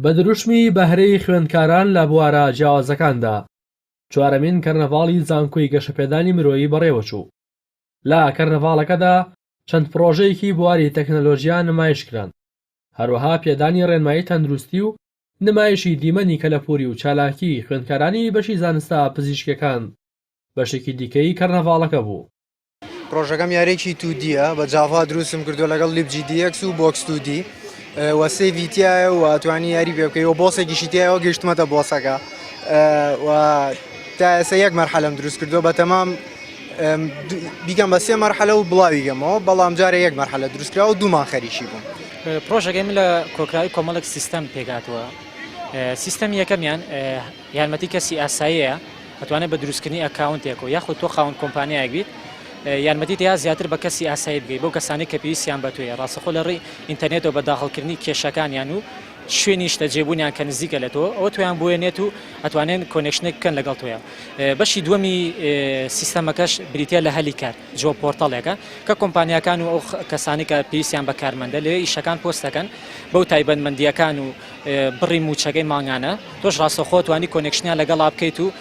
بە دروشمی بەهرەی خوێندکاران لە بوارە جیاوازەکاندا، چوارەمین کەرنەڤاڵی زانکۆی گەشەپێدانی مرۆیی بەڕێوەچوو. لە کەرنەڤاڵەکەدا چەند پڕۆژەیەکی بواری تەکنەلۆژیا نمایشکران، هەروەها پێدانی ڕێنمایی تەندروستی و نمایشی دیمەنی کەلەپووری و چالاکیی خوێندکارانی بەشی زانستە پزیشکییەکان بەشێکی دیکەی کەرنەڤاڵەکە بوو. پرۆژەکەم یاریەکی تودیە بە جاڤا دروستم کردو لەگەڵ لیبجی دیەکس و بۆکس تودی و سێڤی تایە و توانی یاری پێ بکەی و بۆسێکیشی تایەوە گەشتمەتە بۆسەکە و تا ئێستا یەک مەرحەلم دروست کردو بە تەمام بیکەم بە سێ مەرحەلە و بڵاوی گەمەوە بەڵام جارە یەک مەرحەلە دروستکرا و دوومان خەریکی بووم پرۆژەکەی من لە کۆکراوی کۆمەڵک سیستەم پێکاتوە سیستەم یەکەمیان یارمەتی کەسی ئاساییە ئەتوانێت بە دروستکردنی ئەکاونتێک و یاخود تۆ خاوەن کۆمپانیایەک بیت یارمەتی دەیات زیاتر بە کەسی ئاسایی بگەیت بەو کەسانی کە پێویستیان بە تۆیە ڕاستەخۆ لە ڕێی ئینتەرنێتەوە بە داخڵکردنی کێشەکانیان و شوێن نیشتە جێبوونیان کە نزیکە لە تۆ ئەوە تویان بۆیە نێت و ئەتوانێن کۆنێکشنێک بکەن لەگەڵ تۆیە بەشی دووەمی سیستەمەکەش بریتە لە هەلی کار جۆ پۆرتەڵێکە کە کۆمپانیەکان و ئەو کەسانی کە پێویستیان بە کارمەندە لەوێ ئیشەکان پۆستەکەن بەو تایبەتمەندیەکان و بڕی مووچەکەی مانگانە تۆش ڕاستەوخۆ توانی کۆنێکشنیان لەگەڵا بکەیت و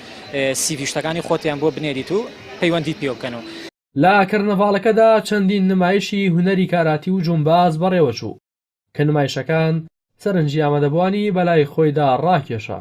سی ڤی و شتەکانی خۆتیان بۆ بنێریت و پەیوەندیت پێوە بکەن و. لە کەرنەڤاڵەکەدا چەندین نمایشی هونەری کاراتی و جومباز بەڕێوەچوو، کە نمایشەکان سەرنجی ئامادەبووانی بەلای خۆیدا ڕاکێشا.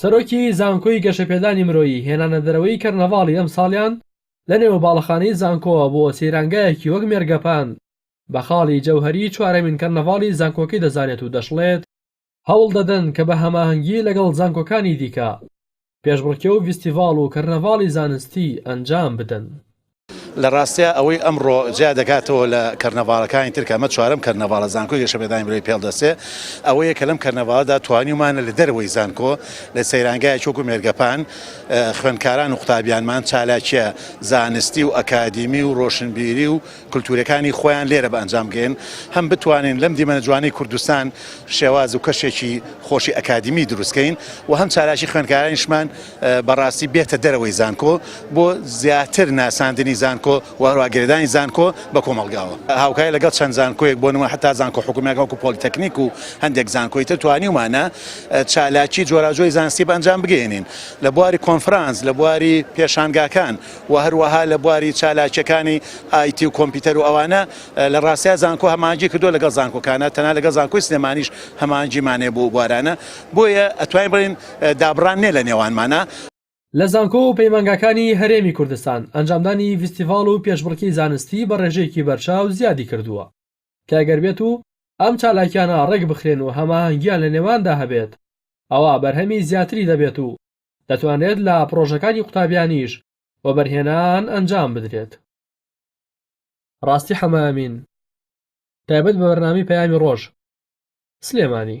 سەرۆکی زانکۆی گەشەپێدانی مرۆیی هێنانەدەرەوەی کەرنەڤاڵی ئەمساڵیان لە نێو باڵەخانەی زانکۆوە بۆ سەیرانگایەکی وەک مێرگەپان بە خاڵی جەوهەری چوارەمین کەرنەڤاڵی زانکۆکەی دەزانێت و دەشڵێت، هەوڵ دەدەن کە بە هەماهەنگی لەگەڵ زانکۆکانی دیکە پێشبڕکێ و ڤیستیڤاڵ و کەرنەڤاڵی زانستی ئەنجام بدەن. لە ڕاستیا ئەوەی ئەمڕۆ جیا دەکاتەوە لە کەرنەڤاڵەکانی تر کە ئەمە چوارەم کەرنەڤاڵە زانکۆی گەشەپێدانی برۆی پێڵ دەستێ ئەوەیە کە لەم کەرنەڤاڵەدا توانیومانە لە دەرەوەی زانکۆ لە سەیرانگایەکی وەکوو مێرگەپان خوێندکاران و قوتابیانمان چالاکییە زانستی و ئەکادیمی و ڕۆشنبیری و کلتورەکانی خۆیان لێرە بە ئەنجام بگەیەن، هەم بتوانین لەم دیمەنە جوانەی کوردستان شێواز و کەشێکی خۆشی ئەکادیمی دروست کەین و هەم چالاکی خوێندکارانیشمان بە ڕاستی بێتە دەرەوەی زانکۆ بۆ زیاتر ناساندنی زانکۆ و هەروەها گرێدانی زانکۆ بە کۆمەڵگاوە هاوکاری لەگەڵ چەند زانکۆیەک بۆ نموونە حەتا زانکۆ حکومییەکان وەکو پۆلیتەکنیک و هەندێک زانکۆی تر توانیومانە چالاکی جۆراوجۆی زانستی بە ئەنجام بگەیەنین لە بواری کۆنفرانس لە بواری پێشانگاکان و هەروەها لە بواری چالاکییەکانی ئایتی و کۆمپیوتەر و ئەوانە، لە ڕاستیا زانکۆ هەماهەنگی کردووە لەگەڵ زانکۆکانە، تەنها لەگەڵ زانکۆی سلێمانیش هەماهەنگیمان هەیە بۆ ئەو بوارانە، بۆیە ئەتوانین بڵێین دابڕان نییە لە نێوانمانا. لە زانکۆ و پەیمانگاکانی هەرێمی کوردستان، ئەنجامدانی ڤیستیڤاڵ و پێشبڕکێی زانستی بە ڕێژەیەکی بەرچاو زیادی کردووە، کە گەر بێت و ئەم چالاکییانە ڕێکبخرێن و هەماهەنگییان لە نێواندا هەبێت، ئەوا بەرهەمی زیاتری دەبێت و دەتوانرێت لە پڕۆژەکانی قوتابیانیش وەبەرهێنان ئەنجام بدرێت. ڕاستی حەمە ئەمین تایبەت بە بەرنامەی پەیامی ڕۆژ سلێمانی.